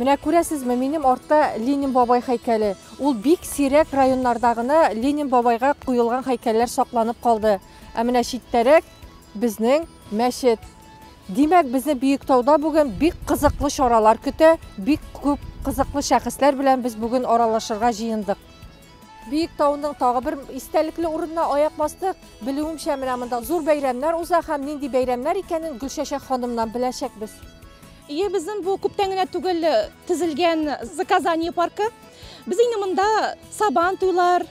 Менә күрәсезме, минем артта Ленин бабай һәйкәле. Ул бик сирәк районнарда гына Ленин бабайга куелган һәйкәлләр сакланып калды. Ә менә читтәрәк безнең мәчет. Димәк, безне Бөектауда бүген бик кызыклы чаралар көтә, бик күп кызыклы шәхесләр белән без бүген аралашырга җыендык. Биек тауның тагы бер истәлекле урынына аяк бастык. Белүемчә, менә монда зур бәйрәмнәр уза һәм нинди бәйрәмнәр икәнен Гөлчәчәк ханымнан беләчәкбез. Ие, безнең бу күптән генә түгел төзелгән заказание паркы. Без инде монда сабан туйлар,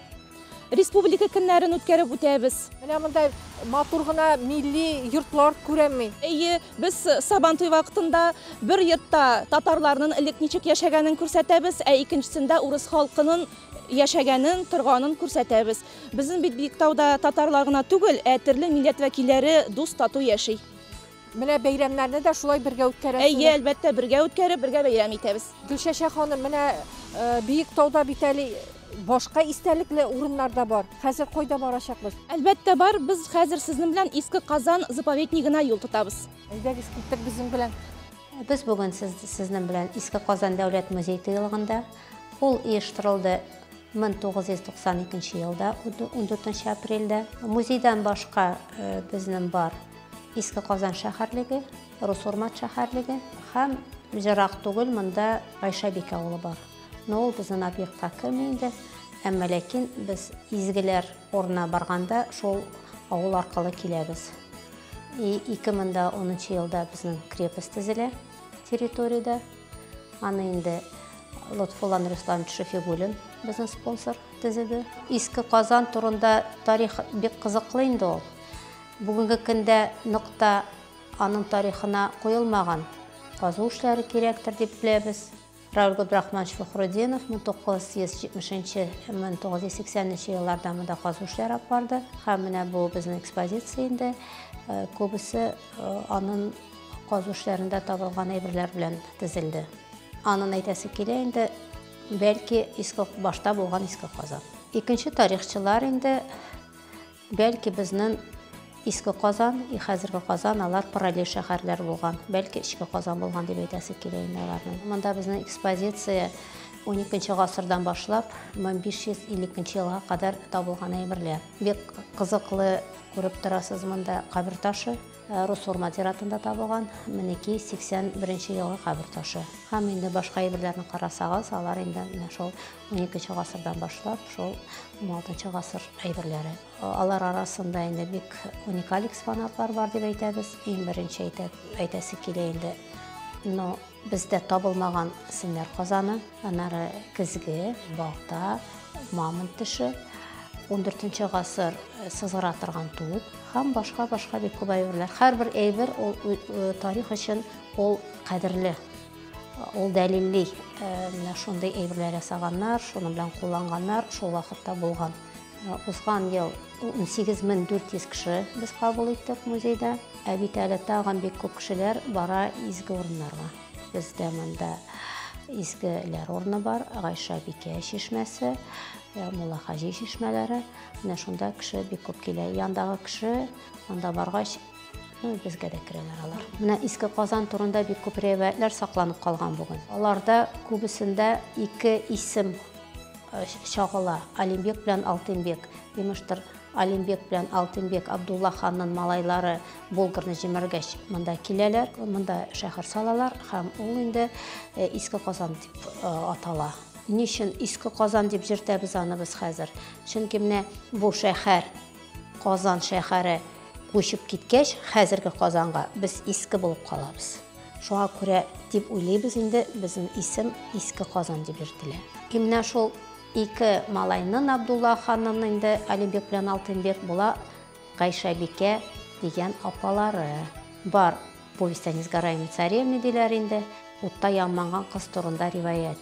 республика көннәрен үткәреп үтәбез. Менә монда матур гына милли йортлар күрәмме? Ие, Без Сабантуй вакытында бер йортта татарларның элек ничек яшәгәнен күрсәтәбез, ә икенчесендә урыс халкының яшәгәнен, торганын күрсәтәбез. Безнең бит Биектауда татарлар гына түгел, ә төрле милләт вәкилләре дус, тату яши. Менә бәйрәмнәрне дә шулай бергә үткәрәсез. Әйе, әлбәттә, бергә үткәреп, бергә бәйрәм итәбез. Гөлчәчәк ханым, менә Биектауда бит әле Башка истәлекле урыннар да бар. Хәзер кайда барачакбыз? Әлбәттә бар, без хәзер сезнең белән Иске Казан заповеднигына юл тотабыз. Әйдәгез, киттек безнең белән. Без бүген сез, сезнең белән Иске Казан дәүләт музей тыелыгында. Ул оештырылды 1992 елда, 14 апрельдә. Музейдан башка э, безнең бар Иске Казан шәһәрлеге, Русурмат шәһәрлеге һәм ерак түгел монда Гайшәбик авылы бар. Но ул безнен объектка керми инде, әмма ләкин без изгеләр урынына барганда шул авыл аркылы киләбез. И 2010 елда безнен крепость төзелә территориядә. Аны инде Лотфуллан Руслан Шефигуллин безнен спонсор төзеде. Иске Казан турында тарих бик кызыклы инде ул. Бүгенге көндә нык та аның тарихына куелмаган. Казу эшләре кирәктер дип беләбез. Равил Габдрахманович Фәхрудинов 1970-1980 елларда монда казу эшләре алып барды. Һәм менә бу безнең экспозиция инде. Э, күбесе э, аның казу эшләрендә табылган әйберләр белән тезелде. Анын әйтәсе килә инде, бәлки иске башта булган иске казан. Икенче тарихчылар инде Бәлки безнен Иске Казан и хәзерге Казан алар параллель шәһәрләр булган. Бәлки Эчке Казан булган дип әйтәсе килә инде аларның. Монда безнең экспозиция 12 гасырдан башлап 1552 елга кадәр табылган әйберләр. Бик кызыклы күреп торасыз монда кабер ташы. Э, рус урмат зиратында табылган минеки 81 елгы кабер ташы һәм инде башка әйберләрне карасагыз алар инде менә шул Уникенче гасырдан башлап, шул 16 гасыр әйберләре. Алар арасында инде бик уникаль экспонатлар бар дип әйтәбез. Иң беренче әйтә, әйтәсе килә инде. Но бездә табылмаган синнәр казаны, анары кизге, балта, мамонт теше, 14 гасыр э, сызгыра торган туып һәм башка башка бик күп әйберләр. Һәрбер әйбер ул э, тарих өчен ул кадерле Ул дәлилли, менә шундый әйберләр ясаганнар, шуны белән кулланганнар, шул вакытта булган. Узган ел 18400 кеше без кабул иттек музейда, ә бит әле тагын бик күп кешеләр бара изге урыннарга. Бездә монда изгеләр урыны бар, Гайша бикә чишмәсе, Мулла хаҗи чишмәләре. Менә шунда кеше бик күп килә. Яндагы кеше анда баргач, Ну, безгә дә керәләр алар. Менә иске Казан турында бик күп рәвәятләр сакланып калган бүген. Аларда күбесендә ике исем э, чагыла. Алимбек белән Алтынбек. Имештер, Алимбек белән Алтынбек Абдулла ханның малайлары Болгарны җимергәч монда киләләр, монда шәһәр салалар һәм ул инде э, иске Казан дип э, атала. Ничен иске Казан дип җиртәбез аны без хәзер? Чөнки менә бу шәһәр Казан шәһәре күчеп киткәч, хәзерге Казанга без иске булып калабыз. Шуңа күрә дип уйлыйбыз инде, безнең исем Иске Казан дип йөртелә. И менә шул ике малайнын Абдулла ханнын инде Алибек белән Алтынбек була Гайшәбикә дигән апалары бар. Повесть о несгораемой царевне диләр инде, утта янманган кыз турында риваять.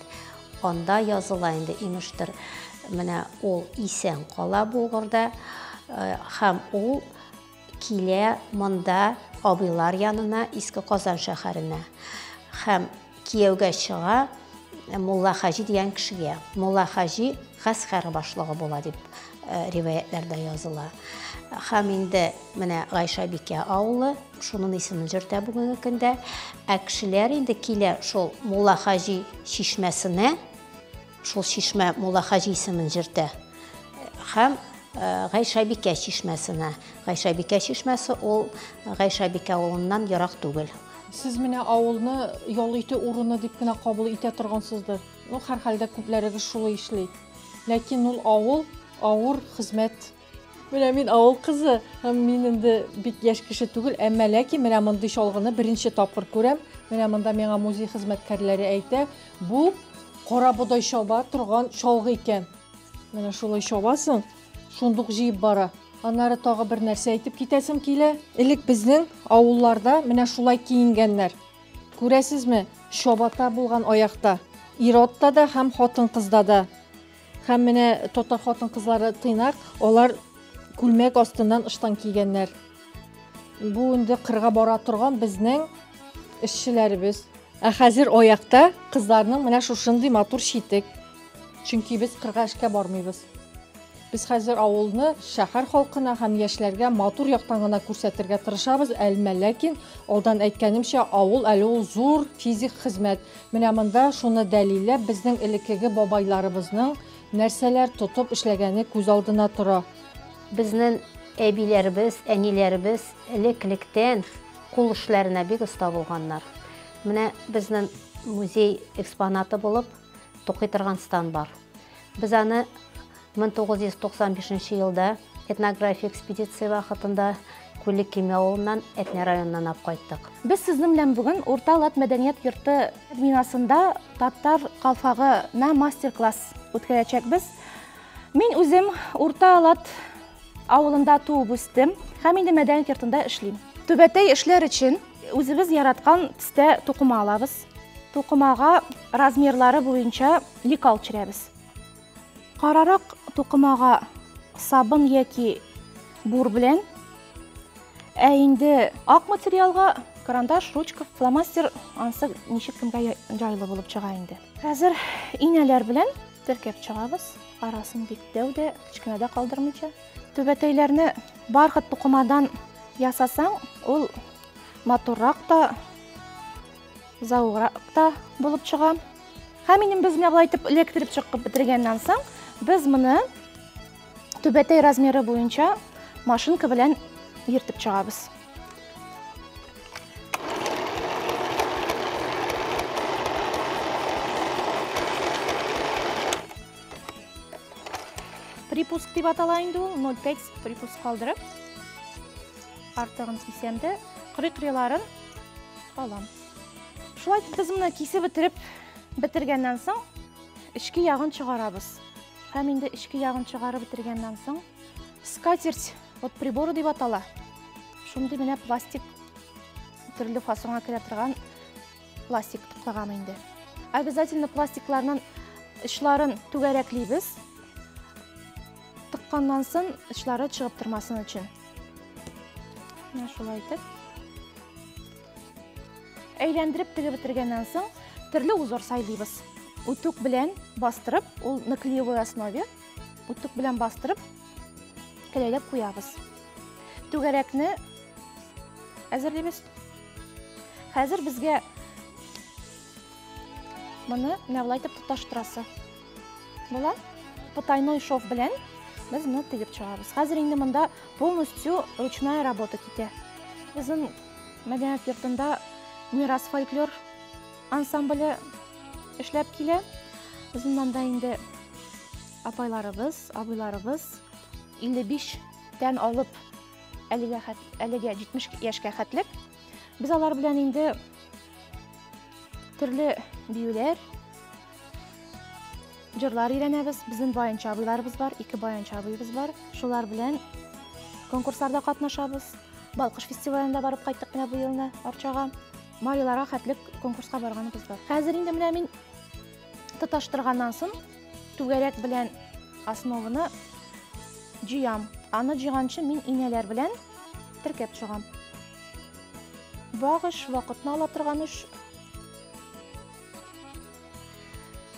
Анда языла инде, имештер, менә ул исән кала Булгырда э, һәм ул килә монда абыйлар янына, Иске Казан шәһәренә. Һәм Кияүгә чыга Мулла Хаҗи дигән кешегә. Мулла Хаҗи гаскәр башлыгы була дип э, риваятләрдә языла. Һәм инде менә Гайша бикә авылы шуның исемен җөртә бүгенге көндә. Ә кешеләр инде килә шул Мулла Хаҗи чишмәсенә Шул чишмә Мулла хаҗи исемен җөртә. Һәм Гайшабикә чишмәсенә. Гайшабикә чишмәсе ул Гайшабикә авылыннан ерак түгел. Сез менә авылны ял итү урыны дип кенә кабул итә торгансыздыр. Ну, һәрхәлдә күпләрегез шулай эшли. Ләкин ул авыл авыр хезмәт Менә мин авыл кызы, һәм мин инде бик яшь кеше түгел, әмма ләкин менә мондый чалгыны беренче тапкыр күрәм. Менә монда миңа музей хезмәткәрләре әйтә, бу кара бодай чаба торган чалгы икән. Менә шулай чабасың, шундук җыеп бара. Аннары тагы бер нәрсә әйтеп китәсем килә. Элек безнең авылларда менә шулай киенгәннәр. Күрәсезме, чабата булган аякта. Ир-атта да һәм хатын-кызда да. Һәм менә татар хатын-кызлары тыйнак, алар күлмәк астыннан ыштан кигәннәр. Бу инде кырга бара торган безнең эшчеләребез. Ә хәзер аякта кызларның менә шушындый матур читек. Чөнки без кырга эшкә бармыйбыз. Без хәзер авылны шәһәр халкына һәм яшьләргә матур яктан гына күрсәтергә тырышабыз, әлмә ләкин алдан әйткәнемчә, авыл әле ул зур физик хезмәт. Менә монда шуны дәлилләп безнең элеккеге бабайларыбызның нәрсәләр тотып эшләгәне күз алдына тора. Безнен әбиләребез, әниләребез элек-электән кул эшләренә бик оста булганнар. Менә безнен музей экспонаты булып тукый торган стан бар. Без аны 1995 елда этнография экспедиция вакытында Күллек Кеме авылыннан Әтнә районыннан алып кайттык. Без сезнең белән бүген Урта Лат мәдәният йорты бинасында татар калфагына мастер-класс үткәрәчәкбез. Мин үзем Урта Лат авылында туып үстем һәм инде мәдәният йортында эшлим. Түбәтәй эшләр өчен үзебез яраткан төстә тукыма алабыз. Тукымага размерлары буенча лекал төшерәбез. Карарак тукымага сабын яки бур белән, ә инде ак материалга карандаш, ручка, фломастер ансы ничек кемгә жайлы булып чыга инде. Хәзер инәләр белән теркәп чыгабыз. Арасын бик дәү дә, кечкенә дә калдырмыйча. Түбәтәйләрне бархат тукымадан ясасаң, ул матуррак та, Зауграк та булып чыга. Һәм инде без менә болай итеп электрик чыккып бетергәннән соң, без моны түбәтәй размеры буенча машинка белән ертып чыгабыз. Припуск дип атала инде ул, 0,5 припуск калдырып. Артыгын кисәм дә, кырый-кырыйларын алам. Шулай итеп без моны кисеп бетереп бетергәннән соң, эчке ягын чыгарабыз. Һәм инде эчке ягын чыгарып бетергәннән соң, скатерть вот приборы дип атала. Шундый менә пластик төрле фасонга керә торган пластик туклаган инде. Обязательно пластикларның очларын түгәрәклибез. Тыкканнан сон очлары чыгып тормасын өчен. Менә шулай итеп. Әйләндереп тегеп бетергәннән соң, төрле узор сайлыйбыз. Утук белән бастырып, ул на клеевой основе, утук белән бастырып, кәләйләп куябыз. Түгәрәкне әзерлибез. Хәзер безгә моны менә булай итеп тоташтырасы. Була. Потайной шов белән без моны тегеп чыгарабыз. Хәзер инде монда полностью ручная работа китә. Безнең мәдәният йортында Мирас фольклор ансамбле эшләп килә. Безнең монда инде апайларыбыз, абыйларыбыз 55 тән алып әлегә әлегә 70 яшькә хәтлек. Без алар белән инде төрле биюләр, Җырлар өйрәнәбез. Безнең баянчы абыйларыбыз бар, ике баянчы абыебыз бар. Шулар белән конкурсларда катнашабыз. Балкыш фестивалендә барып кайттык менә бу елны Арчага. Маиларга хәтлек конкурска барганыбыз бар. Хәзер инде менә мин тоташтырганнан соң түгәрәк белән основаны җыям. Аны җыйганчы мин инәләр белән теркәп чыгам. Вак эш, вакытны ала торган эш.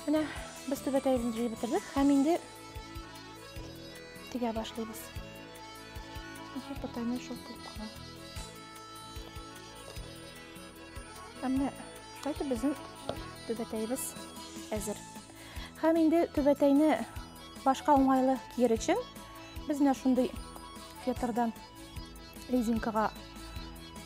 Менә без түбәтәебезне җыеп бетердек һәм инде тегә башлыйбыз. Ничек потайны шул кылып кала. Әмма шулай безнең түбәтәебез әзер. Һәм инде түбәтәйне башка уңайлы киер өчен без менә шундый фетрдан резинкага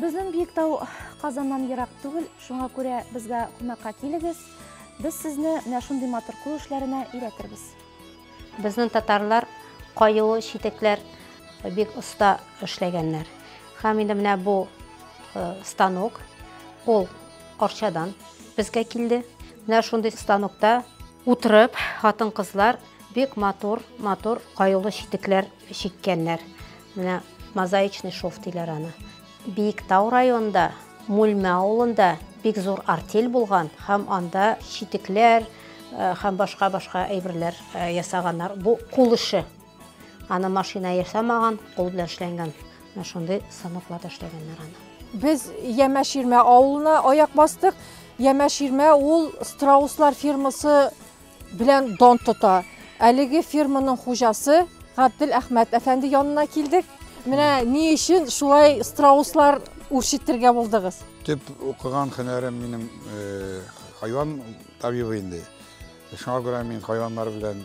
Безнең Биектау Казаннан ерак түгел, шуңа күрә безгә кунакка килегез. Без сезне менә шундый матур кул эшләренә өйрәтербез. Безнең татарлар каю читекләр бик оста эшләгәннәр. Һәм инде менә бу э, станок ул Арчадан безгә килде. Менә шундый станокта утырып, хатын-кызлар бик матур, матур каюлы читекләр чиккәннәр. Менә мозаичный шов диләр аны. Биектау районында, Мүлмә авылында бик зур артель булган һәм анда читекләр һәм башка-башка әйберләр ясаганнар. Бу кул эше. Аны машина ясамаган, кул белән эшләнгән. Менә шундый станокларда эшләгәннәр аны. Без Ямә-Ширмә авылына аяк бастык. Ямә-Ширмә ул Страуслар фирмасы Белән дон тота. Әлеге фирманың хуҗасы Габдел Әхмәт әфәнде янына килдек. Менә ни өчен шулай страуслар үрчетергә булдыгыз? Төп укыган һөнәрем минем э, хайван табибы инде. Шуңа күрә мин хайваннар белән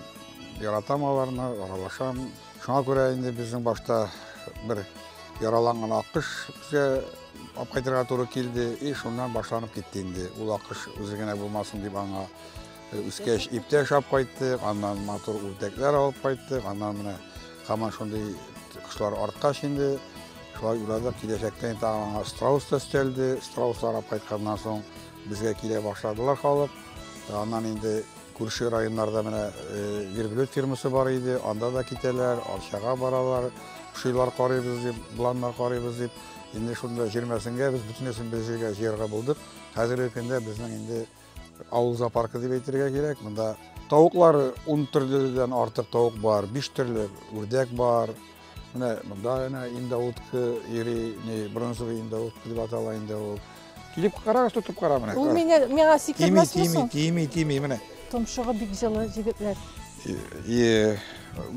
яратам аларны, аралашам. Шуңа күрә инде безнең башта бер яраланган акыш бізге алып кайтырга туры килде и шуннан башланып китте инде ул акыш үзе генә булмасын дип аңа Үскәч иптә ашап кайттык, аннан матур үрдәкләр алып кайттык, аннан менә һаман шундый кошлар арткач инде шулай уйладык, киләчәктә инде тагын аңа страус та өстәлде, страус арап кайтканнан соң безгә килә башладылар халык. Э, аннан инде күрше районнарда менә э, верблюд фирмасы бар иде, анда да китәләр, Арчага баралар, шилар карыйбыз дип, планнар карыйбыз дип. Инде шунда җирмәсенгә без бөтенесен без җиргә җыярга булдык. Хәзерге көндә безнең инде Авыл зоопаркы дип әйтергә кирәк. Монда тавыклар 10 төрледән артык тавык бар, 5 төрле үрдәк бар. Менә монда гына индоутка ири, не бронзовый индоутка дип атала инде ул. Килеп карагыз, тотып кара менә. Ул миңа миңа сикермәс мисең? Тими, тими, тими, тими, менә. Томшыгы бик җылы җегетләр.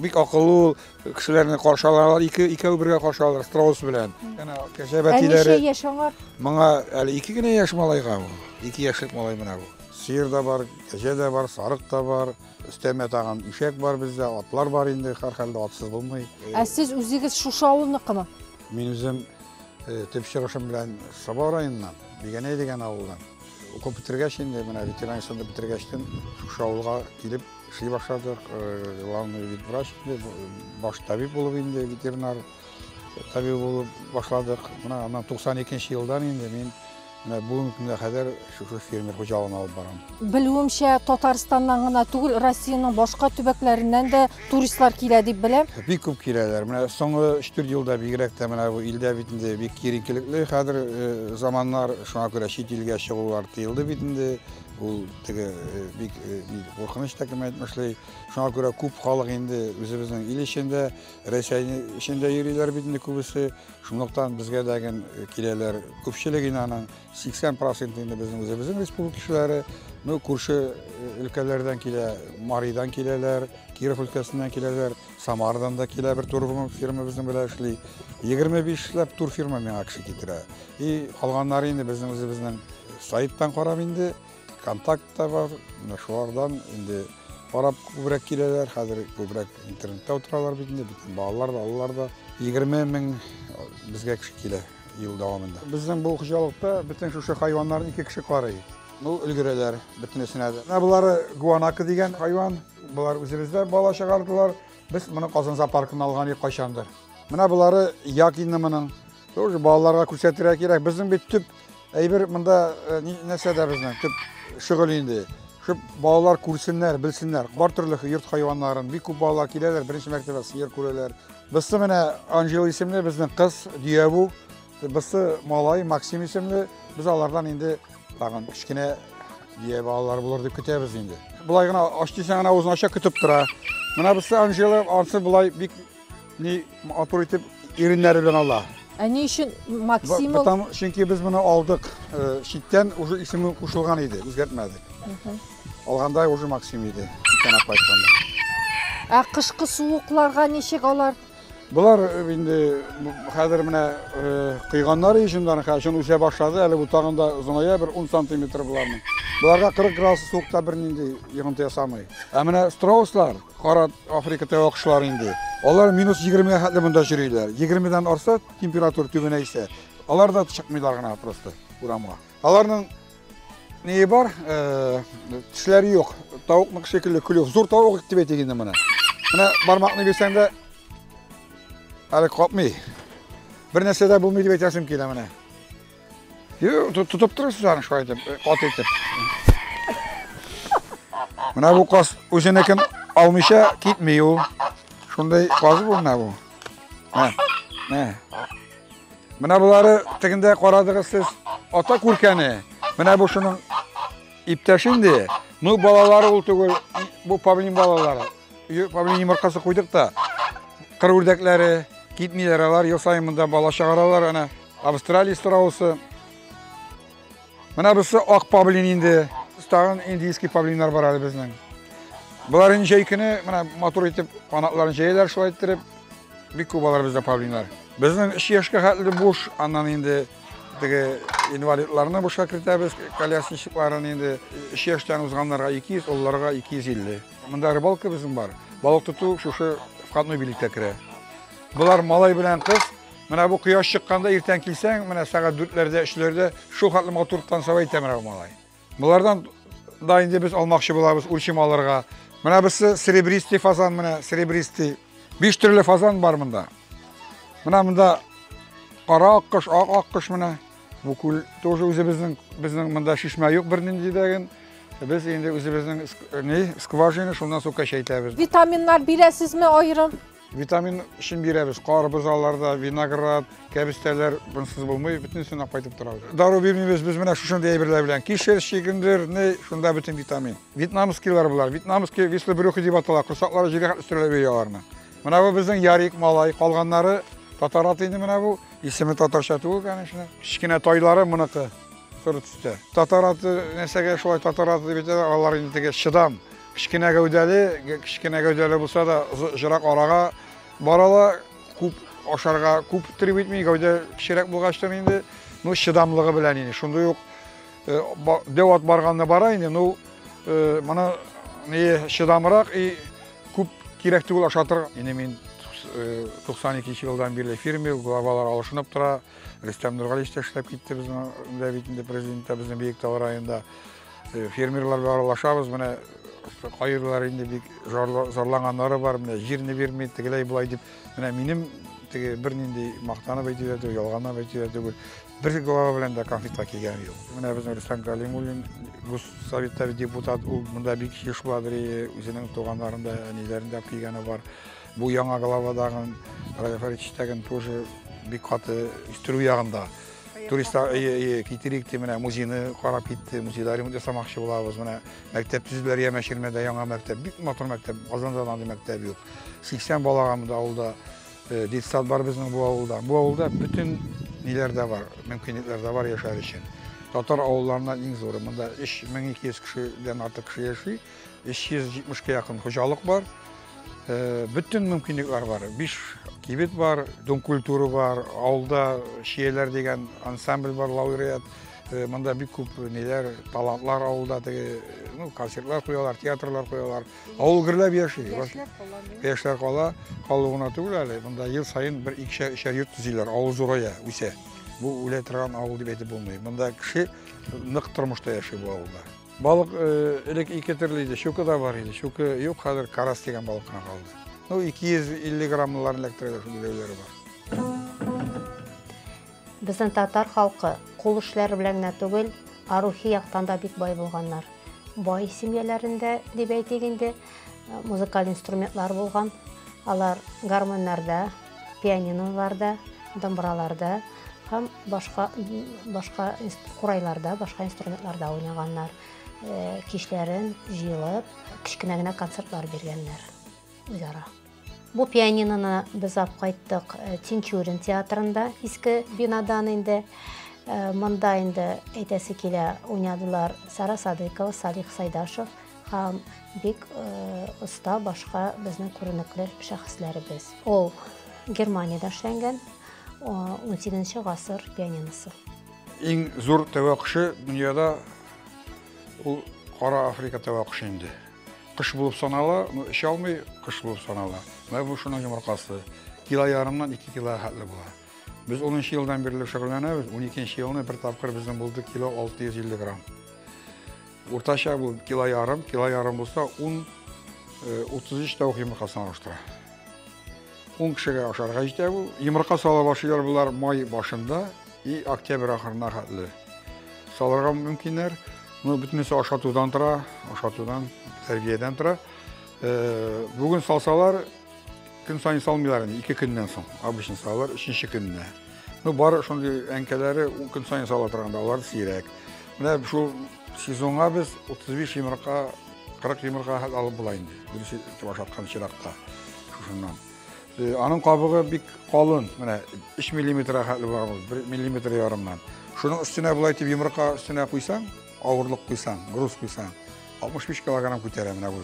Бик акыллы ул, Кешеләрне каршы алалар, ике икәү бергә каршы алалар страус белән. Әнә кәҗә бәтиләре. Ә ничә яшь аңа? Моңа әле ике генә яшь малайга бу. Ике яшьлек малай менә бу. Сыер да бар, кәҗә дә бар, сарык та бар. Өстәмә тагын ишәк бар бездә, атлар бар инде, һәрхәлдә атсыз булмый. Ә сез үзегез шушы авылныкымы? Мин үзем э, төп чыгышым белән Саба районыннан, Бигәнәй дигән авылдан. Укып бетергәч инде, менә ветеринар институтын бетергәчтен шушы авылга килеп Эшли башладык, главный вид врач, баш табиб булып инде, ветеринар табиб булып башладык. Менә аннан 92 елдан инде мин менә бүгенге көнгә кадәр шушы фермер хуҗалыгын алып барам. Белүемчә, Татарстаннан гына түгел, Россиянең башка төбәкләреннән дә туристлар килә дип беләм. Бик күп киләләр. Менә соңгы 3-4 елда бигрәк тә менә бу илдә бит инде бик киеренкелекле хәзер заманнар, шуңа күрә чит илгә чыгулар тыелды бит инде. Ул теге бик куркыныч та кем әйтмешли. Шуңа күрә күп халык инде үзебезнең ил эчендә, Рәсәй эчендә йөриләр бит инде күбесе. Шунлыктан безгә дә ген киләләр. Күпчелек инаның 80 процент инде безнең үзебезнең республика кешеләре. Ну, күрше өлкәләрдән килә, Маридан киләләр, Киров өлкәсеннән киләләр. Самарадан да килә бер турфирма фирма безнең белән эшли. 25 ләп турфирма миңа кеше китерә. И калганнары инде безнең үзебезнең сайттан карап инде, контакт та бар. Менә шулардан инде карап күбрәк киләләр. Хәзер күбрәк интернетта утыралар бит инде. Бөтен балалар да, алалар да. 20 мең безгә кеше килә ел дәвамында. Безнең бу хуҗалыкта бөтен шушы хайваннарны ике кеше карый. Ну, өлгерәләр бөтенесенә дә. Менә булары гуанака дигән хайван. Болар үзебездә бала чыгардылар. Без моны Казан зоопаркына алган идек кайчандыр. Менә болары як инде моның. Тоже балаларга күрсәтергә кирәк. Безнең бит төп әйбер монда э, нәрсәдә безнең төп шөгыль инде. Шуп балалар күрсеннәр, белсеннәр. Бар төрле йорт хайваннарын бик күп балалар киләләр, беренче мәртәбә сыер күрәләр. Бысы менә Анжела исемле безнең кыз, Дияву. Берсе малай Максим исемле, без алардан инде тагын кечкенә бия балалар булыр дип көтәбез инде. Болай гына ач дисәң гына үзен ача көтеп тора. Менә берсе Анжела, ансы болай бик ни матур итеп иреннәре белән ала. Ә ни өчен Максим ул? Потому чөнки без моны алдык. Э, читтән уже исеме кушылган иде, үзгәртмәдек. Алганда уже Максим иде. Читтән апайтканда. Ә кышкы суыкларга ничек алар? Болар инде хәзер менә кыйганнар ишемнәрен хәшен үсә башлады. Әле бу тагын да озыная бер 10 сантиметр буларның. Боларга 40 градус суыкта бернинди йогынты ясамый. Ә менә страуслар, кара Африка тәвә кошлары инде. Алар минус 20 га хәтле монда йөриләр. 20 дан арса температура түбәнәйсә, алар да чыкмыйлар гына просто урамга. Аларның нее бар, э, тешләре юк. Тавыкныкы шикелле клюв. Зур тавык дип әйтик инде моны. Менә бармакны бирсәң дә әле капмый. Бер нәрсә дә булмый дип әйтәсем килә менә. Тотып торасыз аны шулай итеп, э, кат итеп. Менә бу каз үзенекен алмыйча китми ул. Шундай каз бу менә бу. Мә, мә. Менә болары тегендә карадыгыз сез ата күркәне. Менә бу шуның иптәше инде. Ну балалары ул түгел, бу павлин балалары. Павлин йомыркасы куйдык та. Кыр үрдәкләре китмиләр алар, ел саен монда бала чыгаралар ана. Австралия страусы. Менә бусы ак павлин инде. Тагын индийский павлиннар бар әле безнең. Болар инде җәй көне менә матур итеп канатларын җәяләр шулай иттереп. Бик күп алар бездә павлиннар. Безнең 3 яшькә хәтле буш, аннан инде теге инвалидларны бушка кертәбез, колясничларын инде 3 яшьтән узганнарга 200, олыларга 250. Монда рыбалка безнең бар. Балык тоту шушы входной билеткә керә. Болар малай белән кыз, Менә бу кояш чыкканда иртән килсәң, менә сәгать дүртләрдә, өчләрдә шул хәтле матур танцевал итә менә бу малай. Болардан да инде без алмакчы булабыз үлчим алырга. Менә берсе серебристый фазан менә, серебристый. Биш төрле фазан бар монда. Менә монда кара аккош, ак аккош менә. Бу күл тоже үзебезнең, безнең монда шишмә юк бернинди дәген. Без инде үзебезнең не скважина, шуннан су кәчәйтәбез. Витаминнар бирәсезме аерым? Витамин өчен бирәбез. Карбыз аларда, виноград, кәбестәләр бунсыз булмый, бөтенесенә кайтып тора. Дару бирмибез без менә шушындый әйберләр белән. Кишер, шигендер, не, шунда бөтен витамин. Вьетнамскийлар булар. Вьетнамский вислы брюхи дип атала. Курсаклары җиргә үстерелә бия аларны. Менә бу безнең ярик малай, калганнары татар аты инде менә бу. Исеме татарча түгел, конечно. Кечкенә тайлары моныкы. Соры төстә. Татар аты нәрсәгә шулай татар аты дип әйтәләр, алар инде теге чыдам. Кечкенә гәүдәле, кечкенә гәүдәле булса да, озырак арага бара ала, күп ашарга күп треб итми, гәүдә кечерәк булгачтан инде, ну, чыдамлыгы белән инде. Шундый ук э, дәү ат барганны бара инде, ну, э, моны не чыдамрак и күп кирәк түгел ашатыр. Инде мин 92 э, елдан бирле фирме, главалар алышынып тора. Рөстәм Нургалич та эшләп китте безнең дә бит инде президент та безнең Биектау районында. Э, фермерларга аралашабыз, менә кайырлар инде бик зарланганнары бар, менә җирне бирми, тегеләй болай дип. Менә минем теге бернинди мактанып әйтүләр түгел, ялганлап әйтүләр түгел. Бер глава белән дә конфликтка килгән юк. Менә безнең Рөстәм Галимуллин, Госсоветтагы депутат, ул монда бик еш бардыр, үзенең туганнарында, әниләрендә килгәне бар. Бу яңа главадагы Радифаричтагын тоже бик каты үстерү ягында. Туристлар әйе, әйе, китерик дип менә музейны карап китте. Музейда ремонт ясамакчы булабыз. Менә мәктәп төзүләр яме Ширмәдә яңа мәктәп, бик матур мәктәп. Казанда да андый мәктәп юк. 80 балага монда авылда э, детсад бар безнең бу авылда. Бу авылда бөтен ниләр дә бар, мөмкинлекләр дә бар яшәр өчен. Татар авылларыннан иң зуры. Монда 3200 кешедән артык кеше яши. 370 кә якын хуҗалык бар. Э, бөтен мөмкинлекләр бар. Биш кибет бар, дом культуры бар, авылда шиеләр дигән ансамбль бар, лауреат. Э, монда бик күп ниләр, талантлар авылда теге, ну, концертлар куялар, театрлар куялар. Авыл гөрләп яши. Яшьләр кала. Яшьләр кала, калу гына түгел әле. Монда ел саен бер икешәр өчәр йорт төзиләр, авыл зурая, үсә. Бу үлә торган авыл дип әйтеп булмый. Монда кеше нык тормышта яши бу авылда. Балык элек ике төрле иде, щука да бар иде. Щука юк, хәзер карас дигән балык кына калды. Ну, 250 граммларын эләктерәләр шул биләүләре бар. Безнең татар халкы кул эшләре белән генә түгел, ә рухи яктан да бик бай булганнар. Бай семьяларында дип әйтик инде, музыкаль инструментлар булган. Алар гармоннарда, Пианиноларда, домбыраларда һәм башка башка курайларда, башка инструментларда уйнаганнар. Э, кичләрен җыелып, кечкенә генә концертлар биргәннәр үзара. Бу пианиноны без алып кайттык э, Тинчурин театрында, иске бинадан инде. Э, монда инде әйтәсе килә, уйнадылар Сара Садыкова, Салих Сайдашев, Һәм бик оста э, башка безнең күренекле шәхесләребез. Ул Германиядә эшләнгән 18 гасыр пианиносы. Иң зур тәвәккүше дөньяда ул Кара Африка тәвәккүше инде. Кыш булып санала, ну эчә алмый, кыш булып санала. Менә бу шуның йомыркасы. Кило ярымнан 2 кило хәтле була. Без 10 елдан бирле шөгыльләнәбез. 12 елны бер тапкыр безнең булды кило 650 грамм. Уртача бу кило ярым, кило ярым булса, ун 33 э, тәү йомырка санаштыра. Ун кешегә ашарга җитә бу. Йомырка сала башлыйлар булар май башында и октябрь ахырына хәтле. Салырга мөмкиннәр. Ну, бөтенесе ашатудан тора, ашатудан, тәрбиядән тора. Э, бүген салсалар, Көн сайын салмыйлар инде, ике көннән соң. Обычно салалар, өченче көнне. Ну, бар шундый әнкәләре көн сайын сала торганда, алар сирәк. Менә шул сезонга без 35 йомырка, 40 йомырка хәл алып була инде. Дөресе ашаткан чиракта. Шушыннан. Э, аның кабыгы бик калын, менә 3 миллиметр хәтле бар ул, 1 миллиметр ярымнан. Шуның өстенә булай дип йомырка өстенә куйсаң, авырлык куйсаң, груз куйсаң, 65 килограмм күтәрә менә бу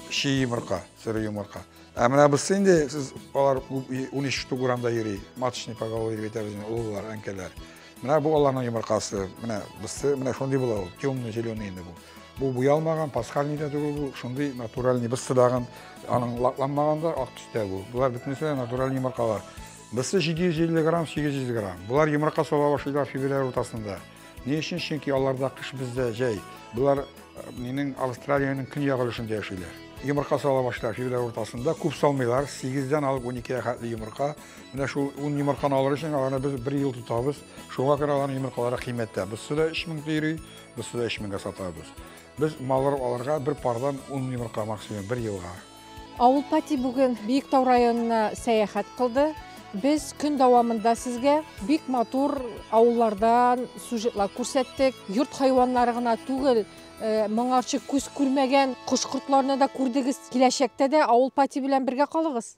чи йомырка. Сыры йомырка. Ә менә берсе инде сез алар 13 штук урамда йөри. Маточный поголовье дип әйтәбез инде, олылар, әнкәләр. Менә бу аларның йомыркасы. Менә берсе, менә шундый була ул, темный зеленый инде бу. Бу буялмаган, пасхальный да түгел бу, шундый натуральный берсе дагын аның лакланмаган да ак төстә бу. Болар бөтенесе дә натуральный йомыркалар. Берсе 750 грамм, 800 грамм. Болар йомырка сала башлыйлар февраль уртасында. Ни өчен? Чөнки аларда кыш бездә җәй. Болар э, минең Австралиянең көньяк өлешендә яшиләр. Йомырка сала башлар февраль уртасында. Күп салмыйлар. 8-дән алып 12-гә хәтле йомырка. Менә шул 10 йомырканы алыр өчен аларны без 1 ел тотабыз. Шуңа күрә аларның йомыркалары кыйммәттә. Без суда 3000 тири, без суда 3000 гә сатабыз. Без маллар аларга бер пардан 10 йомырка максимум 1 елга. Авыл Пати бүген Биектау районына сәяхәт кылды. Без көн дәвамында сезгә бик матур авыллардан сюжетлар күрсәттек. Йорт хайваннары гына түгел, э, моңарчы күз күрмәгән кош-кортларны да күрдегез. Киләчәктә дә Авыл Пати белән бергә калыгыз.